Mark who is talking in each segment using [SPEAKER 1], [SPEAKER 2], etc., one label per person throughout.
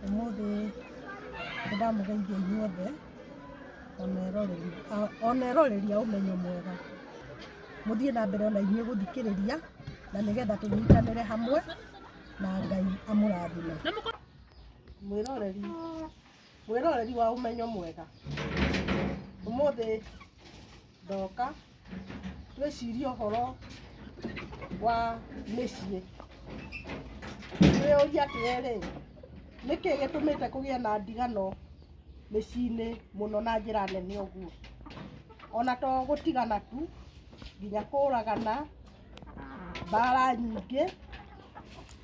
[SPEAKER 1] Ũmũthĩ nĩndamũgeithia inyuothe ona eroreri a ũmenyo mwega. Mũthiĩ na mbere ona inyuĩ gũthikĩrĩria na nĩgetha tũnyitanĩre hamwe na Ngai amũrathime. Mwĩroreri, mwĩroreri wa ũmenyo mwega, ũmũthĩ ndoka. twĩcirie ũhoro wa mĩciĩ twĩyũria atĩrĩrĩ nĩkĩ gĩtũmĩte kũgĩe na ndigano mĩciĩ-inĩ mũno na njĩra nene ũguo ona to gũtigana tu nginya kũragana mbara nyingĩ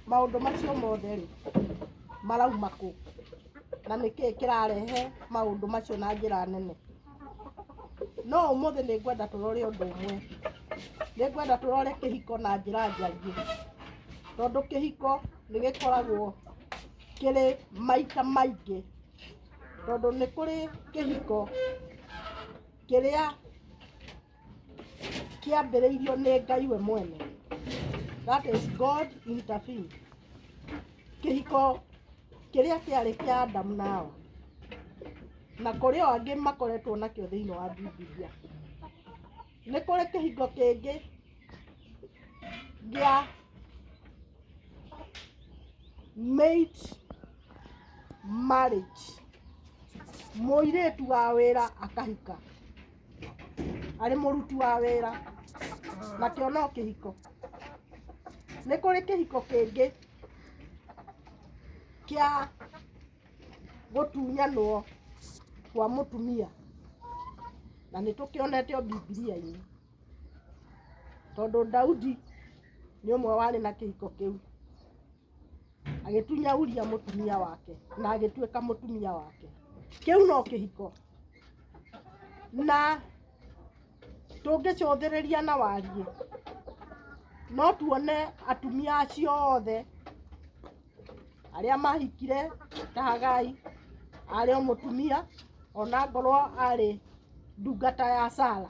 [SPEAKER 1] maũndũ macio mothe rĩ marauma kũ na nĩkĩ kĩrarehe maũndũ macio na njĩra nene. no ũmũthĩ nĩ ngwenda tũrore ũndũ ũmwe nĩ ngwenda tũrore kĩhiko na njĩra njariĩ tondũ kĩhiko nĩ gĩkoragwo kĩrĩ maita maingĩ tondũ nĩ kũrĩ kĩhiko kĩrĩa kĩambĩrĩirio nĩ Ngai we mwene. That is God intervened. Kĩhiko kĩrĩa kĩarĩ kĩa Adamu na Hawa na kũrĩ o angĩ makoretwo nakĩo thĩinĩ wa Bibilia. Nĩ kũrĩ kĩhiko kĩngĩ gĩa maid marriage, mũirĩtu wa wĩra akahika. arĩ mũruti wa wĩra nakĩo no kĩhiko nĩ kũrĩ kĩhiko kĩngĩ kĩa gũtunyanwo kwa mũtumia na nĩ tũkĩonete o bibilia-inĩ tondũ daudi nĩ ũmwe warĩ na kĩhiko kĩu agĩtunya Uria mũtumia wake na agĩtuĩka mũtumia wake. Kĩu no kĩhiko na tũngĩcũthĩrĩria na wariĩ no tuone atumia acio othe arĩa mahikire ta Hagai arĩ o mũtumia ona ngorwo arĩ ndungata ya Sara.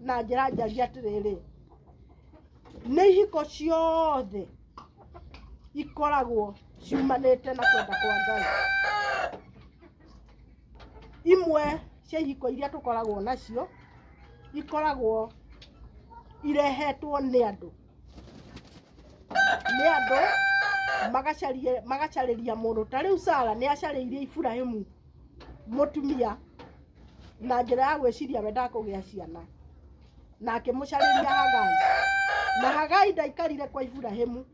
[SPEAKER 1] na njĩra njaria atĩrĩrĩ nĩ ihiko ciothe ikoragwo ciumanĩte na kwenda kwa ngai imwe cia ihiko iria tũkoragwo nacio ikoragwo irehetwo nĩ andũ nĩ andũ magacarie- magacarĩria mũndũ ta rĩu sara nĩ acarĩirie iburahimu mũtumia na njĩra ya gwĩciria we ndakũgĩa ciana na akĩmũcarĩria Hagai na Hagai ndaikarire kwa Iburahimu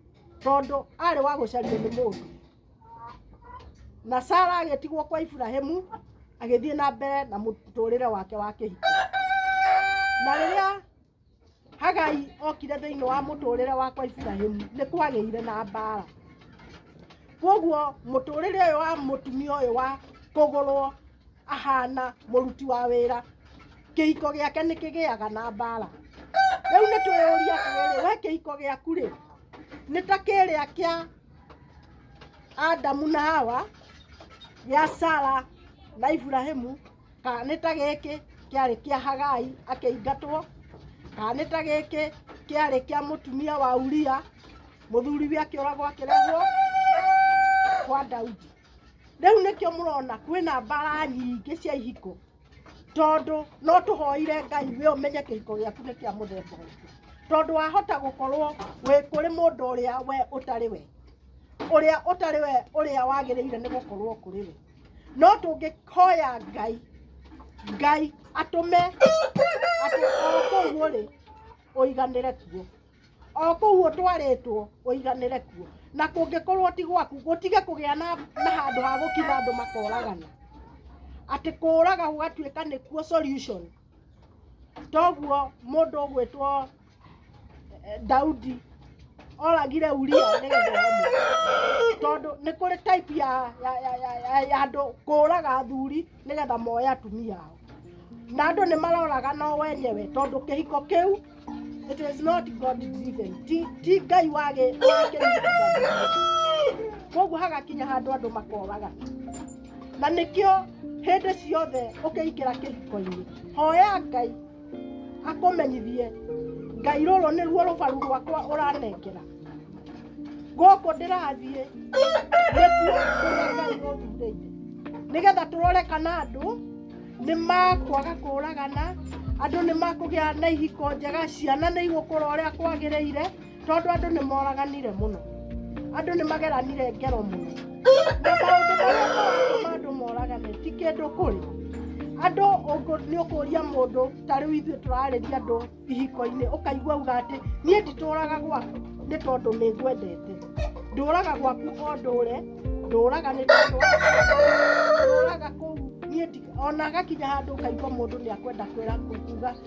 [SPEAKER 1] tondũ arĩ wa gũcario nĩ mũndũ na Sara agĩtigwo kwa Iburahimu agĩthiĩ na mbere na mũtũrĩre wake wa kĩhiko na rĩrĩa Hagai okire thĩinĩ wa mũtũrĩre wakwa Iburahĩmu nĩ kwagĩire na mbaara kwoguo mũtũrĩre ũyũ wa mũtumia ũyũ wa kũgũrwo ahana mũruti wa wĩra kĩhiko gĩake nĩ kĩgĩaga na mbaara rĩu nĩ twĩyũria atĩrĩrĩ we kĩhiko gĩaku rĩ nĩ ta kĩrĩa kĩa Adamu na Hawa gĩa Sara na Iburahĩmu kanĩ ta gĩkĩ kĩarĩ kĩa hagai akĩingatwo kanĩ ta gĩkĩ kĩarĩ kĩa mũtumia wa uria mũthuriwe akĩũragwo akĩrehwo kwa daudi rĩu nĩkĩo mũrona kwĩna mbara nyingĩ cia ihiko tondũ no tũhoire ngai we ũmenye kĩhiko gĩaku nĩ kĩa mũthemba ũngĩ tondũ wahota gũkorwo wĩ kũrĩ mũndũ ũrĩa we ũtarĩ we ũrĩa ũtarĩ we ũrĩa wagĩrĩire nĩ gũkorwo kũrĩ we no tũngĩhoya ngai ngai atũme atĩ o kũu ũrĩ ũiganĩre kuo o kũu ũtwarĩtwo ũiganĩre kuo na kũngĩkorwo ti gwaku gũtige kũgĩa na na handũ ha gũkinya andũ makoragana atĩ kũraga gũgatuĩka nĩkuo solution toguo mũndũ ũgwĩtwo Eh, Daudi oragire Uria nĩgetha amũkue. tondũ nĩ kũrĩ type ya ya ya ya ya- ya andũ kũraga athuri nĩgetha moe atumia ao na andũ nĩ maroraga no wenyewe tondũ kĩhiko kĩu it is not God driven ti ti Ngai wage koguo hagakinya handũ andũ makoraga na nĩkĩo hĩndĩ ciothe ũkĩingĩra kĩhiko-inĩ hoya Ngai akũmenyithie ngai rũrũ nĩruo rũbaru rwakwa ũranengera gũkũ ndĩrathiĩ nĩkuo kũrĩa ngai ũthurĩire nĩgetha tũrore kana andũ nĩ makwaga kũragana andũ nĩ makũgĩa na ihiko njega ciana nĩ igũkũra ũrĩa kwagĩrĩire tondũ andũ nĩ moraganire mũno andũ nĩ mageranire ngero mũno na maũndũ marĩa maratũma andũ moragane ti kĩndũ kũrĩ andũ ũngũ- nĩ ũkũria mũndũ ta rĩu ithuĩ tũrarĩria andũ ihiko-inĩ ũkaigua uga atĩ niĩ nditũraga gwaku nĩ tondũ nĩ ngwendete ndũraga gwaku o ndũre ndũraga nĩ tondũ wa ndũraga kũu niĩ ndi- ona agakinya handũ ũkaigua mũndũ nĩ akwenda kwĩra kuga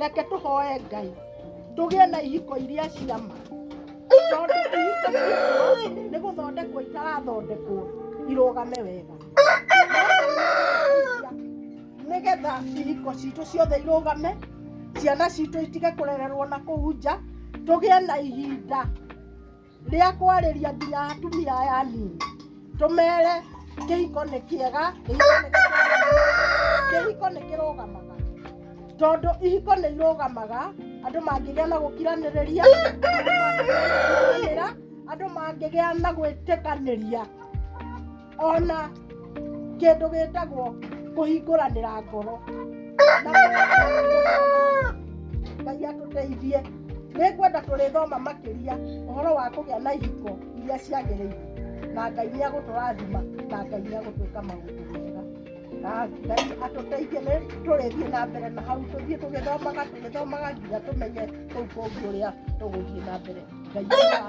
[SPEAKER 1] reke tũhoe ngai tũgĩe na ihiko iria cia ma tondũ ihiko iria nĩ gũthondekwo itarathondekwo irũgame wega nĩgetha ihiko citũ ciothe irũgame ciana citũ itige kũrererwo na kũu nja tũgĩe na ihinda rĩa kwarĩria nginya atumia aya anini tũmere kĩhiko nĩ kĩega kĩhiko nĩ kĩrũgamaga tondũ ihiko nĩ irũgamaga andũ mangĩgĩa na gũkiranĩrĩria andũ mangĩgĩa na gwĩtĩkanĩria ona kĩndũ gĩtagwo kũhingũranĩra ngoro na ngai atũteithie nĩ ngwenda tũrĩthoma makĩria ũhoro wa kũgĩa na ihiko iria ciagĩrĩire na ngai nĩ agũtũrathima na ngai nĩ agũtwĩka maũndũ mega na ngai atũteithie nĩ tũrĩthiĩ na mbere na hau tũthiĩ tũgĩthomaga tũgĩthomaga nginya tũmenye kũu kũngĩ ũrĩa tũgũthiĩ na mbere ngai nĩ wa-